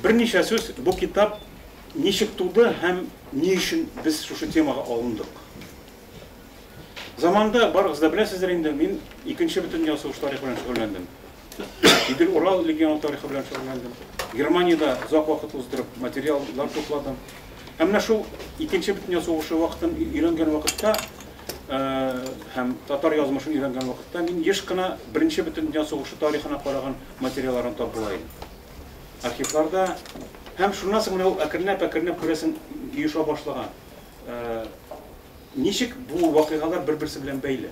Берничә сүз, бу китап ничек туды һәм ни өчен без шушы темага алындык? Заманында, барыгыз да беләсездер инде, мин Икенче бөтендөнья сугышы тарихы белән шөгыльләндем. Идел Урал легионы тарихы белән шөгыльләндем. Германиядә озак вакыт уздырып материаллар тупладым. Һәм менә шул Икенче бөтендөнья сугышы вакытын өйрәнгән вакытта һәм татар язмышын өйрәнгән вакытта мин еш кына Беренче Бөтендөнья сугышы тарихына караган материалларны тап була идем. Архивларда һәм шуннан соң менә ул әкренләп-әкренләп күрәсең оеша башлаган. Ничек бу вакыйгалар бер-берсе белән бәйле?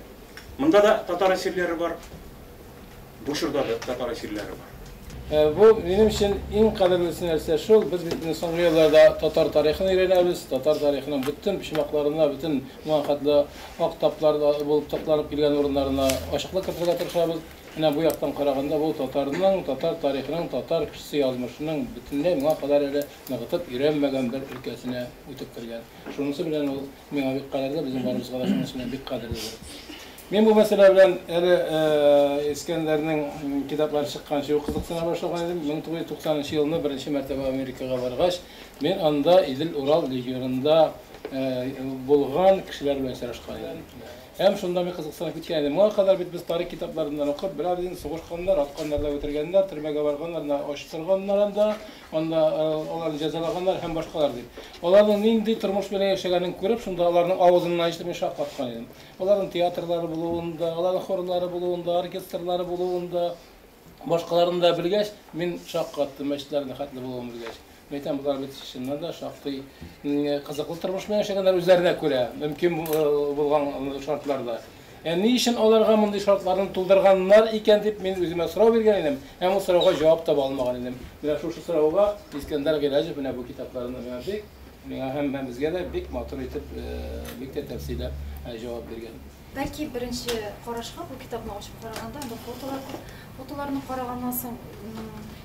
Монда да татар әсирләре бар. Бу чорда да татар эфирләре бар. Бу, минем өчен иң кадерлесе нәрсә шул, без бит инде соңгы елларда татар тарихын өйрәнәбез, татар тарихының бөтен почмакларына, бөтен моңа хәтле ак таплар булып такланып килгән урыннарына ачыклык кертергә тырышабыз. Менә бу яктан караганда, бу татарның, татар тарихының, татар кешесе язмышының бөтенләй моңа кадәр әле ныгытып өйрәнмәгән бер өлкәсенә үтеп кергән. Шунысы белән ул миңа бик кадерле, безнең барыбызга да шунысы белән бик кадерледер. Мин бу мәсьәлә белән әле Искәндәрнең китаплары чыкканчы ук кызыксына башлаган идем. 1990 нчы елны беренче мәртәбә Америкага баргач, мин анда Идел-Урал регионында булган кешеләр белән очрашкан идем. Һәм шунда мин кызыксынып киткән идем. Моңа кадәр бит без тарих китапларыннан укып, берәр дин сугышканнар, атканнар да үтергәннәр, төрмәгә барганнар да, ач торганнар анда, анда аларны җәзалаганнар һәм башкалар дип. Аларның нинди тормыш белән яшәгәнен күреп, шунда аларның авызыннан ишетеп мин шаккаткан идем. Аларның театрлары булуын да, аларның хорлары булуын да, оркестрлары булуын да, башкаларын да белгәч, мин шаккаттым, мәчетләрендә хәтле булуын белгәч. Мин әйтәм, болар бит чыннан да шактый кызыклы тормыш белән яшәгәннәр үзләренә күрә, мөмкин булган шартларда. Ә ни өчен аларга мондый шартларны тудырганнар икән дип мин үземә сорау биргән идем, һәм ул сорауга җавап таба алмаган идем. Менә шушы сорауга Искәндәр Гыйләҗев менә бу китапларында миңа бик Миңа һәм һәм безгә дә бик матур итеп, бик тә тәфсилләп җавап биргән. Бәлки беренче карашка бу китапны ачып караганда анда фотолар күп, фотоларны караганнан соң,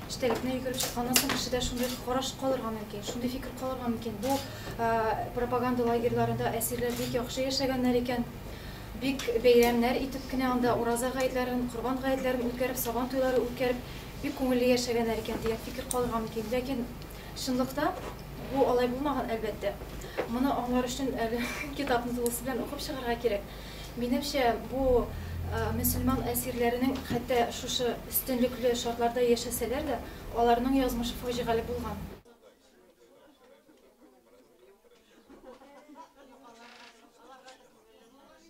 эчтәлекне йөгереп чыкканнан соң кешедә шундый караш калырга мөмкин, шундый фикер калырга мөмкин, бу пропаганда лагерьларында әсирләр бик яхшы яшәгәннәр икән, бик бәйрәмнәр итеп кенә анда ураза гаетләрен, корбан гаетләрен үткәреп, сабан туйлары үткәреп, бик күңелле яшәгәннәр икән дигән фикер калырга мөмкин. Ләкин Чынлыкта бу алай булмаган, әлбәттә. Моны аңлар өчен әле китапны тулысы белән укып чыгарга кирәк. Минемчә, бу мөселман әсирләренең хәтта шушы өстенлекле шартларда яшәсәләр дә, аларның язмышы фаҗигале булган.